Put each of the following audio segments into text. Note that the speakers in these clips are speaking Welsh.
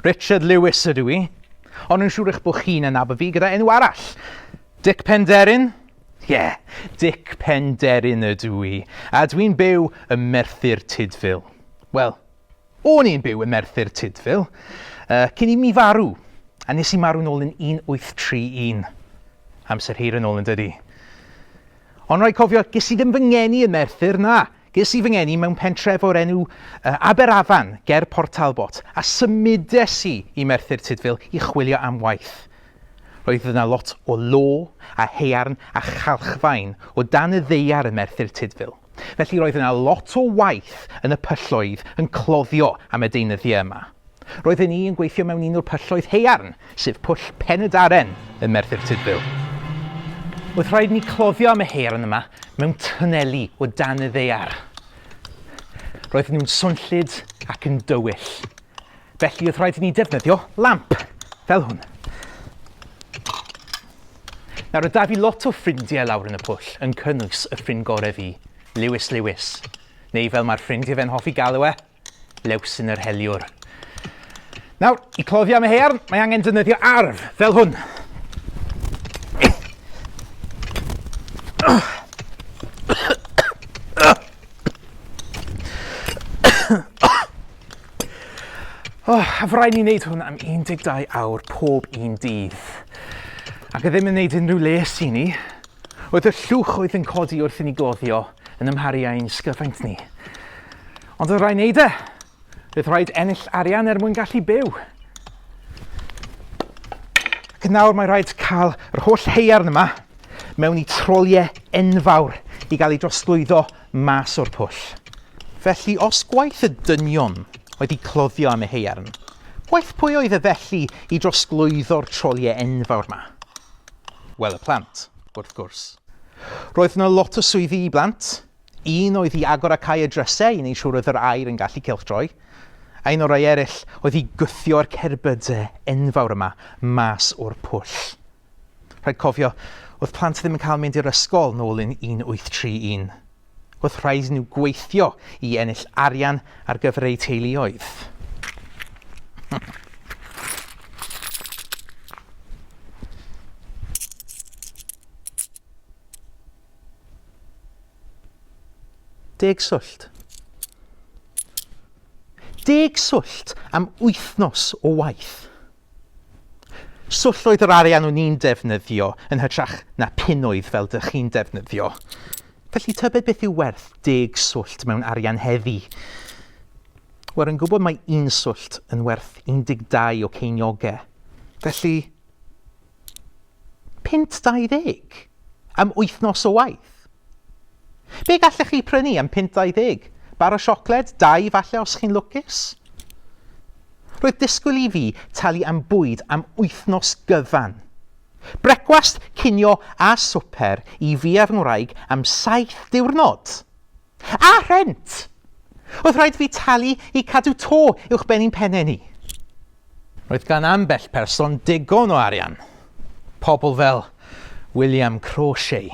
Richard Lewis ydw i, ond yn siŵr eich bod chi'n anafu fi gyda enw arall. Dick Penderin? Ie, yeah, Dick Penderin ydw i, a dwi'n byw ym Merthyr Tudful. Wel, o'n i'n byw ym Merthyr Tudful, uh, cyn i mi farw, a nes i marw'n ôl yn 1831. Amser hir yn ôl yn dydy. Ond rhaid cofio, ges i ddim fy ngeni yn Merthyr, na, Ges i fy ngeni mewn pentref o'r enw Aberafan, ger Port Talbot, a symudes i i Merthyr Tudful i chwilio am waith. Roedd yna lot o law a haearn a chalchfaen o dan y ddaear ym Merthyr Tudful, felly roedd yna lot o waith yn y pylloedd yn cloddio am y deunyddiau yma. Roedden ni yn gweithio mewn un o'r pylloedd haearn, sef Pwll Pen-y-daren ym Merthyr Tudful. Oedd rhaid ni cloddio am y haearn yma mewn twneli o dan y ddaear. Roedden nhw'n swnllyd ac yn dywyll. Felly oedd rhaid i ni defnyddio lamp, fel hwn. Nawr, oedd da fi lot o ffrindiau lawr yn y pwll, yn cynnwys y ffrind gorau fi, Lewis Lewis, neu fel mae'r ffrind i fe'n hoffi galw e, lews yn yr heliwr. Nawr, i cloddio am y hearn, mae angen defnyddio arf, fel hwn. Oh, a fy rhaid ni wneud hwn am 12 awr pob un dydd. Ac a ddim yn wneud unrhyw les i ni, oedd y llwch oedd yn codi wrth i ni gloddio yn ymharu â'n sgyfaint ni. Ond oedd rhaid wneud e. Bydd rhaid ennill arian er mwyn gallu byw. Ac yn nawr mae rhaid cael yr holl heiarn yma mewn i troliau enfawr i gael ei drosglwyddo mas o'r pwll. Felly os gwaith y dynion oedd i cloddio am y heiarn, gwaith pwy oedd y felly i drosglwyddo'r troliau enfawr yma? Wel y plant, wrth gwrs. Roedd yna lot o swyddi i blant, Un oedd i agor a cau y drysau i wneud siŵr oedd yr aer yn gallu cylchdroi, a un o'r rhai eraill oedd i gwthio'r cerbydau enfawr yma mas o'r pwll. Rhaid cofio, oedd plant ddim yn cael mynd i'r ysgol nôl yn 1831. Oedd rhaid i nhw gweithio i ennill arian ar gyfer eu teuluoedd. Deg swllt. Deg swllt am wythnos o waith. Swllt oedd yr arian o'n i'n defnyddio yn hytrach na punnoedd fel dych chi'n defnyddio. Felly tybed beth yw werth deg swllt mewn arian heddi? Wel, yn gwybod mae un swllt yn werth 12 o ceiniogau. Felly, Punt 20 am wythnos o waith! Be gallech chi prynu am punt 20? Bar o siocled? Dau falle os chi'n lwcus? Roedd disgwyl i fi talu am bwyd am wythnos gyfan. Brecwast, cinio a swper i fi a'r ngwraig am saith diwrnod! A rhent! Oedd rhaid fi talu i cadw to uwch ben i'n pennau ni. Roedd gan ambell person digon o arian. Pobl fel William Crawshay.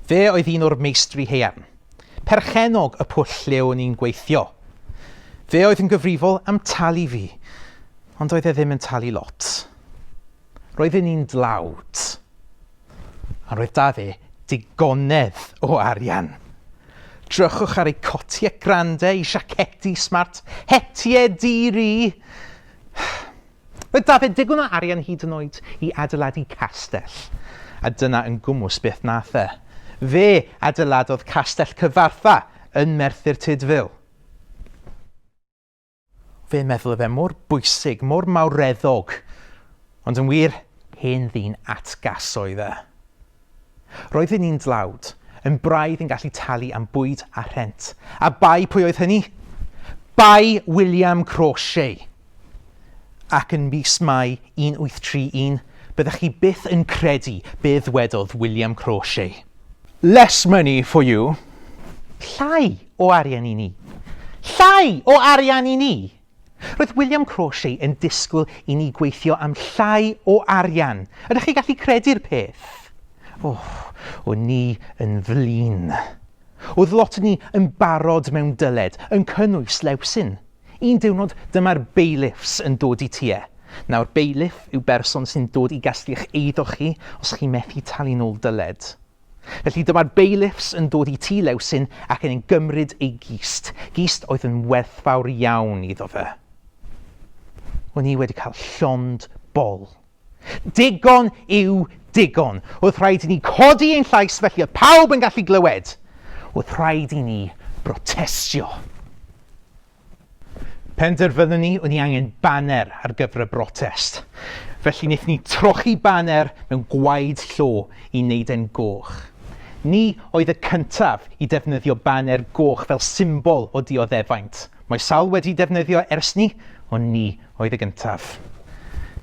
Fe oedd un o'r meistri haearn. Perchennog y pwll lle o'n i'n gweithio. Fe oedd yn gyfrifol am talu fi, ond oedd e ddim yn talu lot. Roedden ni'n dlawd. Ond roedd 'da fe digonedd o arian. Drychwch ar ei cotiau grande, ei siacedi smart, hetie di-ri. Roedd 'da fe digon o arian hyd yn oed i adeiladu castell. A dyna yn gwmws beth nath e. Fe adeiladodd Castell Cyfarthfa yn Merthyr Tudful. Fe meddwl fe mor bwysig, mor mawreddog, ond yn wir, hen ddyn atgas oedd e. Roedd yn un dlawd, yn braidd yn gallu talu am bwyd a rhent. A bai pwy oedd hynny? Bai William Crawshay! Ac yn mis Mai 1831, byddech chi byth yn credu be ddwedodd William Crawshay. Less money for you, llai o arian i ni! Llai o arian i ni! Roedd William Crawshay yn disgwyl i ni gweithio am llai o arian. Ydych chi'n gallu credu'r peth? O, o'n ni yn flin. Oedd lot o ni yn barod mewn dyled, yn cynnwys Lewsyn. Un diwrnod dyma'r bailiffs yn dod i ti e. Nawr, bailiff yw berson sy'n dod i gasglu'ch eiddo chi os chi methu talu'n ôl dyled. Felly dyma'r bailiffs yn dod i tŷ Lewsyn ac yn ein gymryd ei gist, gist oedd yn werthfawr iawn iddo fe. O'n i wedi cael llond bol. Digon yw digon. Oedd rhaid i ni codi ein llais felly oedd pawb yn gallu glywed. Oedd rhaid i ni brotestio. Penderfynon ni o'n i angen baner ar gyfer y brotest, felly wnaethon ni trochi baner mewn gwaed llo i wneud e'n goch. Ni oedd y cyntaf i defnyddio baner goch fel symbol o dioddefaint, mae sawl wedi defnyddio ers 'ny, ond ni oedd y gyntaf.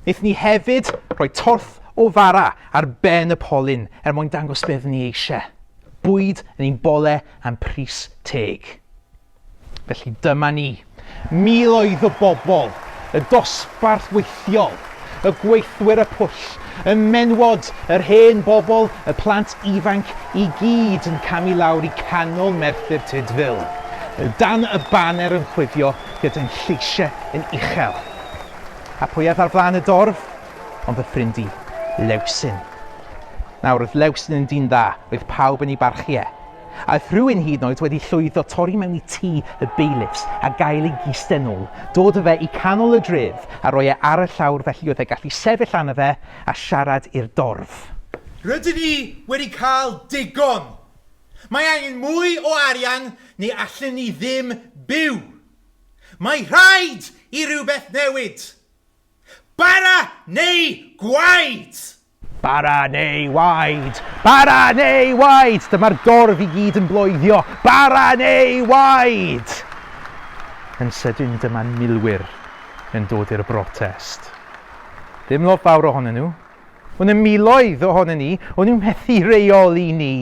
Wnaethon ni hefyd rhoi torth o fara ar ben y polyn er mwyn dangos be oeddwn ni eisiau, bwyd yn ein bole am pris teg. Felly dyma ni, miloedd o bobl, y dosbarth weithiol, y gweithwyr y pwll, y menywod, yr hen bobl, y plant ifanc, i gyd yn camu lawr i canol Merthyr Tydfil, dan y baner yn chwifio gyda'n lleisiau yn uchel. A pwy oedd ar flaen y dorf? Ond fy ffrind i, Lewsyn. Nawr, oedd Lewsyn yn dyn dda, oedd pawb yn ei barchu e, Aeth rhywun hyd yn oed wedi llwyddo torri mewn i tŷ y beilifs a gael ei gisten ôl, dod â fe i canol y dref a roi e ar y llawr felly oedd e gallu sefyll arno fe a siarad i'r dorf. Rydyn ni wedi cael digon! Mae angen mwy o arian neu allen ni ddim byw! Mae rhaid i rywbeth newid! Bara neu gwaed! Bara neu waed! Bara neu waed! Dyma'r dorf i gyd yn bloeddio, Bara neu waed! Yn sydyn dyma milwyr yn dod i'r brotest. Ddim lot fawr ohonyn nhw, ond y miloedd ohonyn ni, o'n nhw'n methu reoli ni!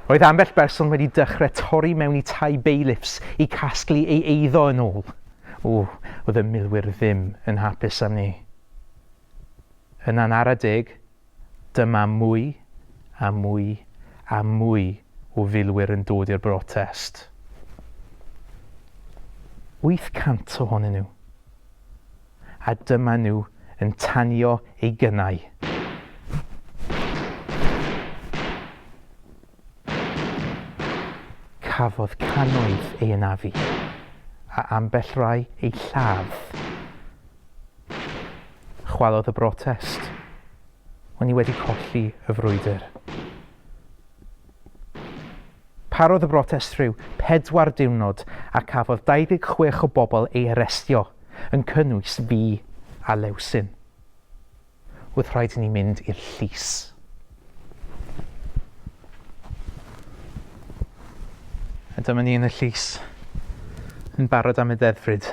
Roedd ambell berson wedi dechrau torri mewn i tai bailiffs i casglu ei eiddo yn ôl. O, oedd y milwyr ddim yn hapus am ni. Yna'n ara deg, dyma mwy a mwy a mwy o filwyr yn dod i'r brotest. 800 ohonyn nhw. A dyma nhw yn tanio ei gynnau. Cafodd cannoedd ei anafu, a ambell rai eu lladd. Chwalodd y brotest. O'n i wedi colli y frwydr. Parodd y brotest rhyw pedwar diwrnod a cafodd 26 o bobl ei arestio, yn cynnwys fi a Lewsyn. Oedd rhaid i ni mynd i'r llys. A dyma ni yn y llys, yn barod am y ddeddfryd.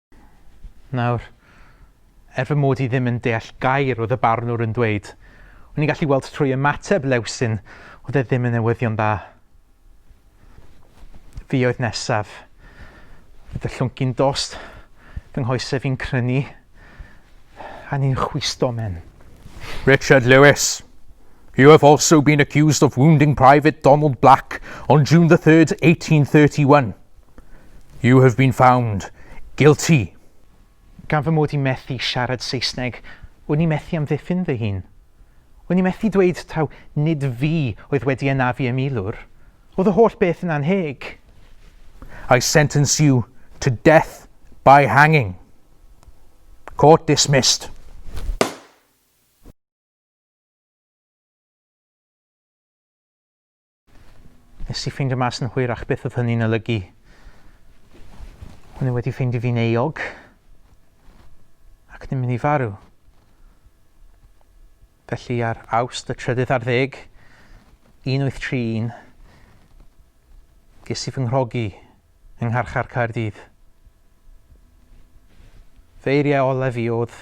Nawr, er fy mod i ddim yn deall gair oedd y barnwr yn dweud, o'n i'n gallu weld trwy ymateb Lewsyn oedd e ddim yn newyddion dda. Fi oedd nesaf. Oedd y llwncyn dost fy nghoesau fi'n crynu a ni'n chwisto men. Richard Lewis. You have also been accused of wounding Private Donald Black on June the 3rd, 1831. You have been found guilty. Gan fy mod i methu siarad Saesneg, wn i methu amddiffyn fy hun. Wn i methu dweud taw nid fi oedd wedi anafu y milwr. Oedd y holl beth yn annheg. I sentence you to death by hanging. Court dismissed. Nes i ffeindio mas yn hwyrach beth oedd hynny'n olygu. Hwnnw wedi ffeindio fi'n eog ac ddim mynd i farw. Felly ar awst y trydydd ar ddeg, 1831, ges i fy nghrogi yng Ngharchar Caerdydd. Fy eiriau olaf i oedd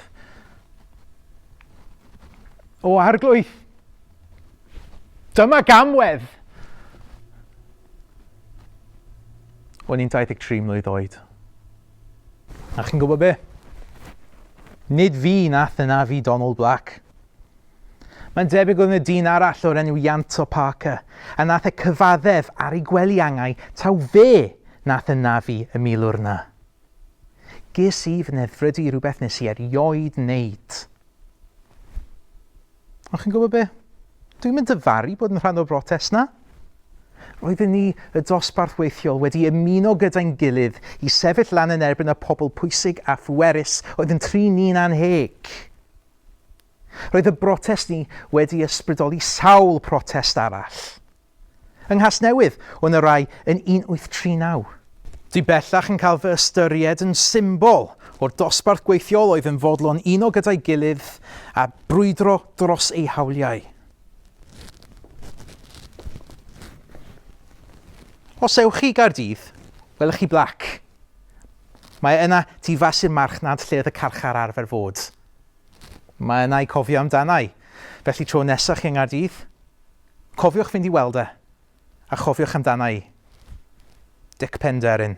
O arglwydd! Dyma gamwedd! O'n i'n 23 mlwydd oed. A chi'n gwybod be? Nid fi nath yna fi Donald Black. Mae'n debyg oedd yna dyn arall o'r enw Ianto Parker, a nath e cyfaddef ar ei gwely-angau taw fe nath ynafu y milwr 'na. Ges i fy nedd-frydu i rywbeth nes i erioed neud. Ond chi'n gwybod be? Dwi'm yn dyfaru bod yn rhan o'r brotest 'na. Roedden ni, y dosbarth weithiol, wedi ymuno gyda'n gilydd i sefyll lan yn erbyn y pobl pwysig a phwerus oedd yn trin ni'n anheg. Roedd y brotest ni wedi ysbrydoli sawl protest arall. Yng Nghasnewydd, o 'na rai yn 1839. Dwi bellach yn cael fy ystyried yn symbol o'r dosbarth gweithiol oedd yn fodlon uno gyda'i gilydd a brwydro dros eu hawliau. Os ewch chi i Gaerdydd, welwch chi blac. Mae yna tu fas i'r marchnad lle oedd y carchar arfer fod. Mae yna i cofio amdana i. Felly tro nesa chi yng Nghaerdydd, cofiwch fynd i weld e, a chofiwch amdana i. Dic Penderyn.